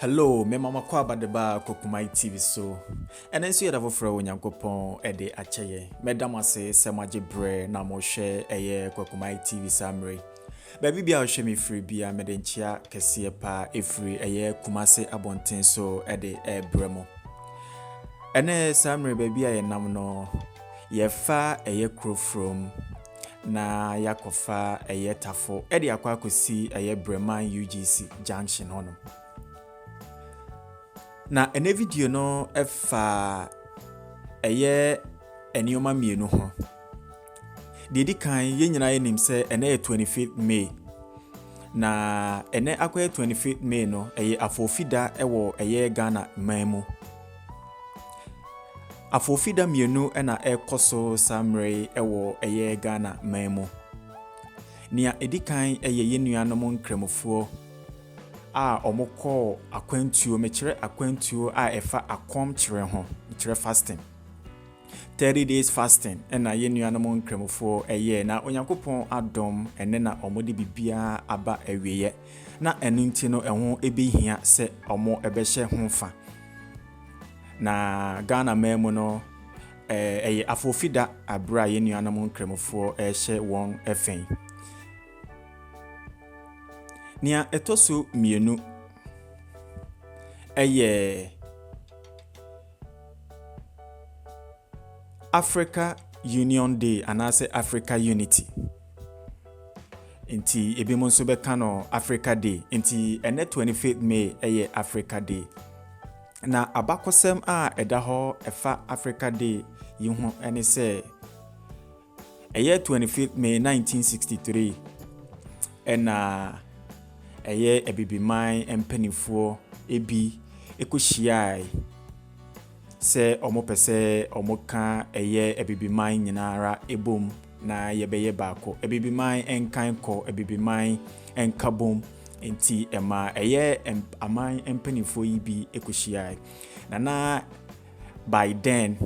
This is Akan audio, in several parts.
Hello, me mama kɔ abadeba kɔ Kumai TV so. Ɛno nso yɛ da foforɔ wɔ Nyankopɔn ɛde akyɛ yɛ. Mɛda mo ase sɛ moagye berɛ na mohwɛ ɛyɛ kɔ Kumai TV saa mmerɛ yi. Baabi bia ɔhwɛ me firi bia mede nkyea kɛseɛ paa ɛfiri ɛyɛ Kumase abɔnten so ɛde ɛbrɛ mo. Ɛnɛ saa mmerɛ baabi a yɛnam no yɛfa ɛyɛ kuro from na yɛakɔfa ɛyɛ tafo de akɔ akɔsi ɛyɛ Breman UGC junction hɔ no. Na ɛnɛ video no fa ɛyɛ nneɛma mmienu ho. Deɛ di kan, yɛn nyinaa yɛnim sɛ ɛnɛ yɛ 25th May. Na ɛnɛ akɔyɛ 25th May no, ɛyɛ afoofida wɔ ɛyɛ Ghana man mu. Afoofi da mmienu na ɛrekɔ so saa mmerɛ yi wɔ ɛyɛ Ghana man mu. Nea ɛdi kan yɛ yɛn nuanom nkramofoɔ a wɔkɔɔ akwantuo, mekyerɛ akwantuo a ɛfa akɔmkyerɛ ho, mekyerɛ fasting. Thirty days fasting na yɛn nuanom Nkramofoɔ yɛɛ na Onyankopɔn adom ɛnnɛ na wɔde biribiara aba awieɛ na ɛno nti no ɛho ɛbɛhia sɛ wɔbɛhyɛ ho fa na Ghana man mu no ɛyɛ afofida abere a yɛn nuanom Nkramofoɔ ɛhyɛ wɔn fɛn nea ɛtɔ so mmienu ɛyɛ Africa Union Day anaasɛ Africa Unity. Nti ebinom nso bɛka no Africa Day. Nti ɛnɛ 25th May ɛyɛ Africa Day. Na abakɔsɛm a ɛda hɔ ɛfa Africa Day yi ho ɛne sɛ Ɛyɛ twenty fifth May nineteen sixty three ɛna ɛyɛ Abibiman mpaninfoɔ ebi ɛkɔ hyiae sɛ ɔmo pɛ sɛ ɔmo ka ɛyɛ Abibiman nyinaa ara ɛbom na yɛbɛyɛ baako. Abibiman ɛnkan kɔ, Abibiman ɛnka bom. Nti ɛma ɛyɛ aman mpaninfoɔ yi bi ɛkɔ hyiae. Na na Biden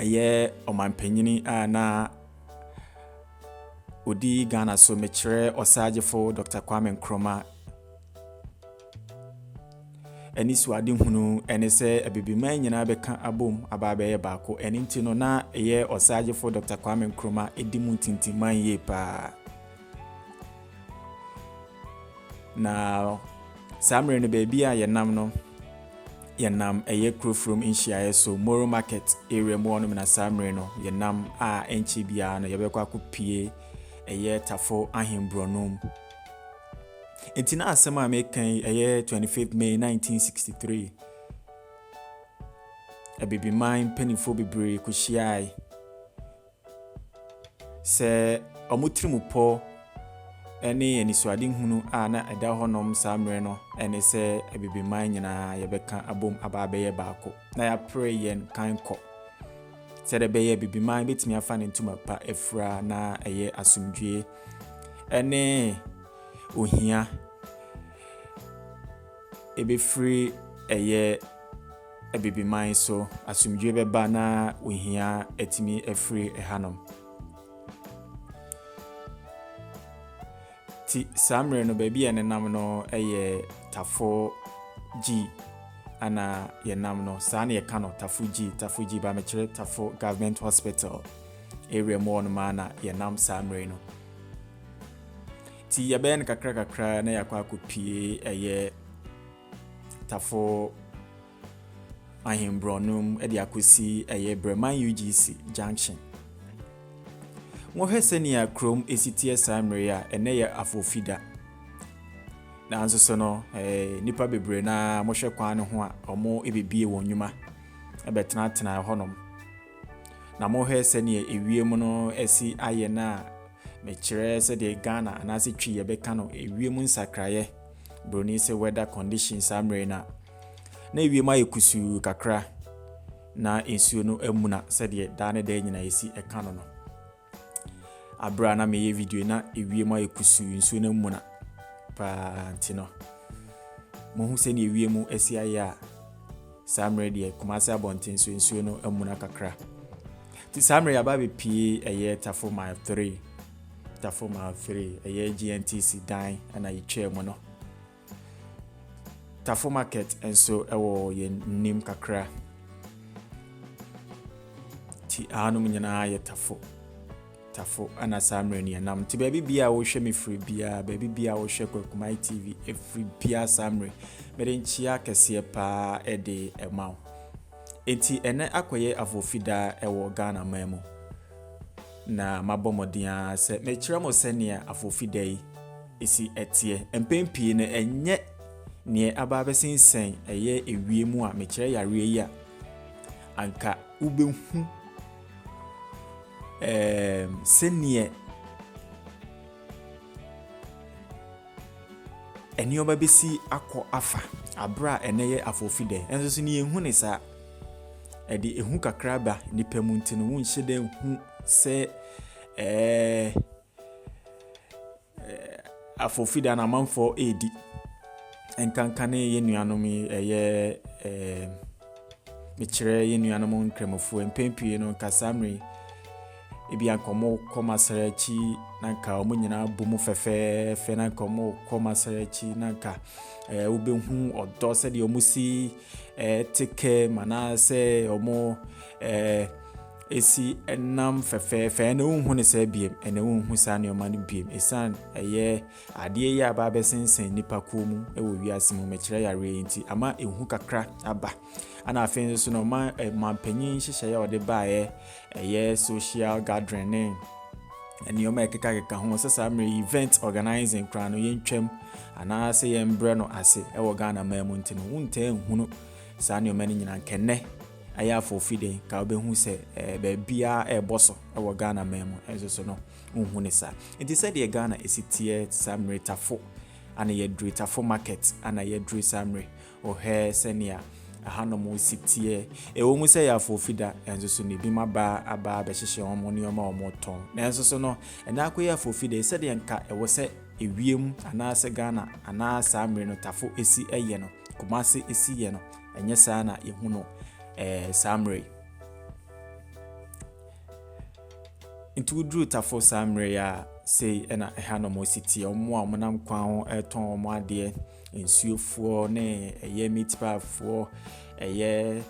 yɛ ɔmanpanyin a na odi Ghana so mekyerɛ ɔsaagyefo Dr. Kwame Nkrumah. Ɛne suadehunu ne sɛ abibiman nyinaa bɛka abom aba abɛyɛ baako. Ɛne nti no na ɛyɛ ɔsaagyefo Dr. Kwame Nkrumah edi mu ntintimman yie paa. Na saa mmerɛ no baabi a yɛnam no yɛnam ɛyɛ kurofurom nhyiaeɛ so moro market area mu hɔnom na saa mmerɛ no yɛnam a ɛnkyɛ biara no yɛbɛkɔ akɔpie ɛyɛ tafo ahemborɔno mu nti na asɛm a meka yi ɛyɛ 25 may 1963 abibiman mpanimfoɔ bebree kɔhyiae Sɛ wɔn tirimupɔ ne anisoadehunu a na ɛda hɔnom saa mmerɛ no ne sɛ Abibiman nyinaa yɛbɛka abom aba abɛyɛ baako na yɛapere yɛn kan kɔ sɛdeɛ ɛbɛyɛ Abibiman bɛtumi afa ne ntoma pa afira na ɛyɛ asomdwoeɛ ne ohia ebefiri ɛyɛ Abibiman so asomdwoe bɛba na ohia atumi afiri ɛhanom. Ti saa mmerɛ no baabi a yɛnenam no yɛ Tafo G ana yɛnam no saa na yɛka no Tafo G Tafo G ba mekyerɛ Tafo Government Hospital area mu hɔ nom a na yɛnam saa mmerɛ no. Ti yɛbɛyɛ no kakra kakra na yɛakɔ akɔpie ɛyɛ tafo ahemborɔnom de akɔsi ɛyɛ Breman UGC junction. Wɔhwɛ sɛnea kurom esi teɛ saa mmere a ɛnɛ yɛ afofida. Nanso so no, eh, nipa bebree na wɔhwɛ kwan no ho a wɔn ebebie wɔn nnwuma ɛbɛtenatena hɔnom. Na wɔhwɛ sɛnea ewiem no esi ayɛ no a Mekyerɛ sɛdeɛ Ghana anaase Twi yɛbɛka no ewiem nsakraeɛ, broni se weather condition saa mmerɛ yi no a, na ewiem ayɛ kusuu kakra na nsuo no amuna sɛdeɛ daa ne daa nyina yɛsi ɛka no no. Aberɛ a na meyɛ video yi na ewiem ayɛ kusuu nsuo no amuna paa nti no, mohu sɛdeɛ ewiem asi ayɛ a, Saa mmerɛ deɛ Kumase abɔnten so nsuo no amuna kakra. Ti saa mmerɛ yaba bepie ɛyɛ Tafo mile 3. Tafo mile 3 ɛyɛ GNTC dan ɛna yɛtwaa mu no. Tafo market nso ɛwɔ yɛn nim kakra. Ti ahanom nyinaa yɛ Tafo. Tafo ana saa mmerɛ no yɛnam nti baabi bia a wohwɛ me firi biara baabi bia a wohwɛ Kwakumai TV ɛfiri biara saa mmerɛ mede nkyea kɛseɛ paa ɛde ɛma wo nti ɛnɛ akɔyɛ afofidaa ɛwɔ Ghana man mu na mabɔ mmɔden ara sɛ mekyerɛ mo sɛnea afofida yi ɛsi ɛteɛ mpɛn pii no ɛnyɛ neɛ aba abɛsensɛn ɛyɛ ewie mu a mekyerɛ yareɛ yi a anka wobɛhu ɛɛm, sɛdeɛ nneɛma bɛsi akɔ afa berɛ a ɛnnɛ yɛ afoofi da yi. Nanso so na yɛhu no saa? Ɛde ehu kakra ba nnipa mu nti no, wonhyɛ da nhu sɛ ɛɛɛ. Afofida no amanfoɔ redi. Nkanka ne yɛn nuanom yi ɛyɛ ɛɛ mekyerɛ yɛn nuanom nkramofoɔ mpɛn pii no nka saa mmerɛ yi ebi anka wɔn kɔ masara akyi na nka wɔn nyinaa bɔ mu fɛfɛɛfɛ na nka wɔn kɔ masara akyi na nka ɛɛ wobɛhu ɔdɔ sɛdeɛ wɔn si ɛɛ te kɛm anaasɛ wɔn ɛɛ. si nam fɛfɛɛfɛ ɛna wonhu no saa biem ɛna wonhu saa nneɛma no biem ɛsiane ɛyɛ adeɛ yi a baabɛsensɛn nnipa kuo mu wɔ wiase mu mɛkyerɛ yareɛ yi nti ama ɛhu kakra aba ɛna afei nso no ɔma mampanyin nhyehyɛeɛ a ɔde baeɛ ɛyɛ social gathering ne nneɛma ɛkekakeka ho sɛ saa mmerɛ event organizing koraa no yɛntwam anaasɛ yɛmbrɛ no ase ɛwɔ ghana man mu nti no wontaa nhunu saa nneɛma no nyinaa nkɛnɛ Ɛyɛ a fo fi den ka wobɛhu sɛ baabiara ɛrebɔ so wɔ Ghana man mu nso so no wonhu no saa. Nti sɛdeɛ Ghana ɛsi teɛ saa mmere tafo ana yɛduru tafo market ana yɛduru saa mmere wohwɛ sɛnea ahanom si teɛ ɛwɔ mu sɛ ɛyɛ a fo fi da nso so no binom aba aba abɛhyehyɛ wɔn nneɛma a wɔretɔn nanso so no ɛnɛ akɔyɛ a fo fi da sɛdeɛ nka ɛwɔ sɛ ewiem anaasɛ Ghana anaa saa mmere no tafo ɛsi yɛ no Kumasi ɛsi yɛ no ɛnyɛ saa na yɛhu no eh, saa mmerɛ yi nti woduru tafo saa mmerɛ yi a sei ɛna ɛha na wɔsi teɛ wɔn a wɔnam kwan ho ɛretɔn wɔn adeɛ nsuofoɔ ne ɛyɛ meat piefoɔ ɛyɛ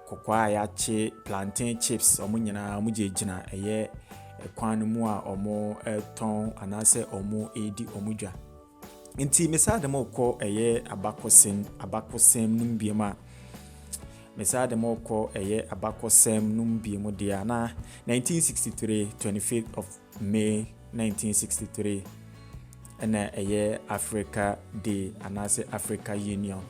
kɔkɔɔ a yɛakye plantain chips wɔn nyinaa wɔn gyinagyina ɛyɛ kwan no mu a wɔretɔn anaasɛ wɔredi wɔn dwa Nti mesaa de mo kɔ ɛyɛ abakɔsɛm abakɔsɛm no mu biem a mesaa de mo kɔ ɛyɛ abakɔsɛm no mu biem deɛ a na 1963 25th of May 1963 ɛna ɛyɛ Africa Day anaasɛ Africa Union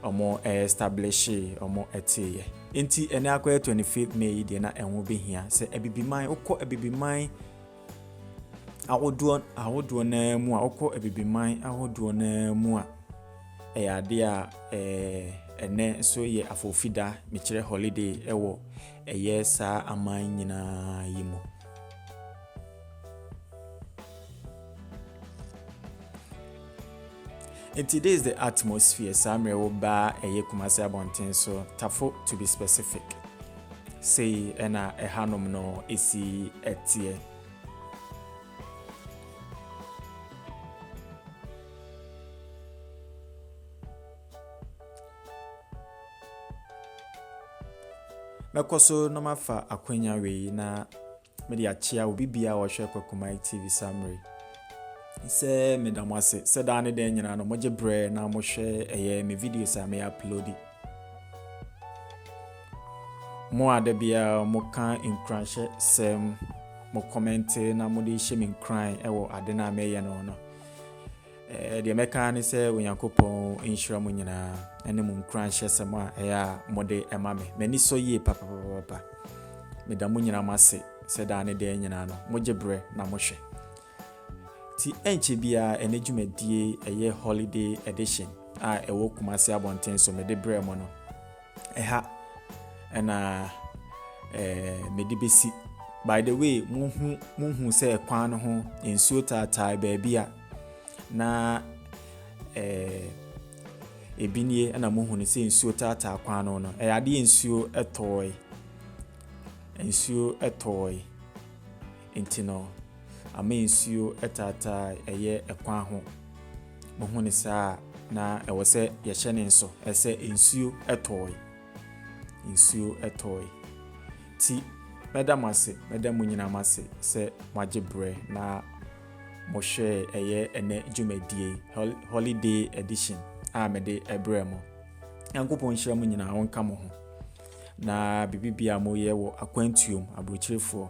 ɔmo ɛɛstablishe ɔmo ɛteeɛ nti ɛnɛ akɔyɛ 25th May yi deɛ na ɛho behia sɛ abibiman wokɔ abibiman ahodoɔ ahodoɔ no ara mu a, wokɔ abibiman ahodoɔ no ara mu a, ɛyɛ adeɛ a ɛɛ ɛnɛ nso yɛ afofida, mekyerɛ holiday wɔ ɛyɛ saa aman nyinaa yi mu. Nti this the atmosphere saa mmerɛ wo baa ɛyɛ Kumasi abɔnten so Tafo to be specific sei ɛna ɛha nom no ɛsi ɛteɛ. Mɛkɔ so na mafa akwanya wei na Mede akyea obi biara a ɔhwɛ Kwakumai TV saa mmerɛ yi sɛ meda mo ase sɛ daa ne dɛn nyinaa no mogye berɛ na mohwɛ ɛyɛ me videos a meyɛ uploadi. Mo a da biara moka nkuranhyɛ sɛm mo kɔmɛnte na mode hyɛ me nkuran wɔ ade no a meyɛ no no. Eh, deɛ mɛka ara ne sɛ Onyankopɔn nhyira mo nyinaa ɛne mo nkuranhyɛsɛm a ɛyɛ a mode ɛma me. M'ani sɔ yie papapapapa. Meda mo nyinaa mo ase sɛ daa ne daa nyinaa no, mogye berɛ na mohwɛ. Ti ɛnkyɛ biara ɛne dwumadie ɛyɛ holiday edition a ɛwɔ Kumasi abɔnten so mede brɛ mo no. Ɛha na mede bɛsi. By the way, mohu mohu sɛ kwan no ho nsuo taataa baabi a na ebi nie na mohu no sɛ nsuo taataa kwan no no. Ɛyɛ adeɛ nsuo tɔɔe. Nsuo tɔɔe nti no. ama nsuo taataa ɛyɛ ɛkwan ho. Mohu ne saa a, na ɛwɔ sɛ yɛhyɛ ne nso sɛ nsuo tɔɔe. Nsuo tɔɔe. Ti mɛda mo ase, mɛda mo nyinaa mo ase sɛ moagye berɛ na mohwɛɛ ɛyɛ ɛnɛ dwumadie holiday edition a mede ɛbrɛ mo. Nyankopɔn nhyira mo nyinaa, ɔnka mo ho. Na biribi bia moyɛ wɔ akwantuom aburokyerefoɔ.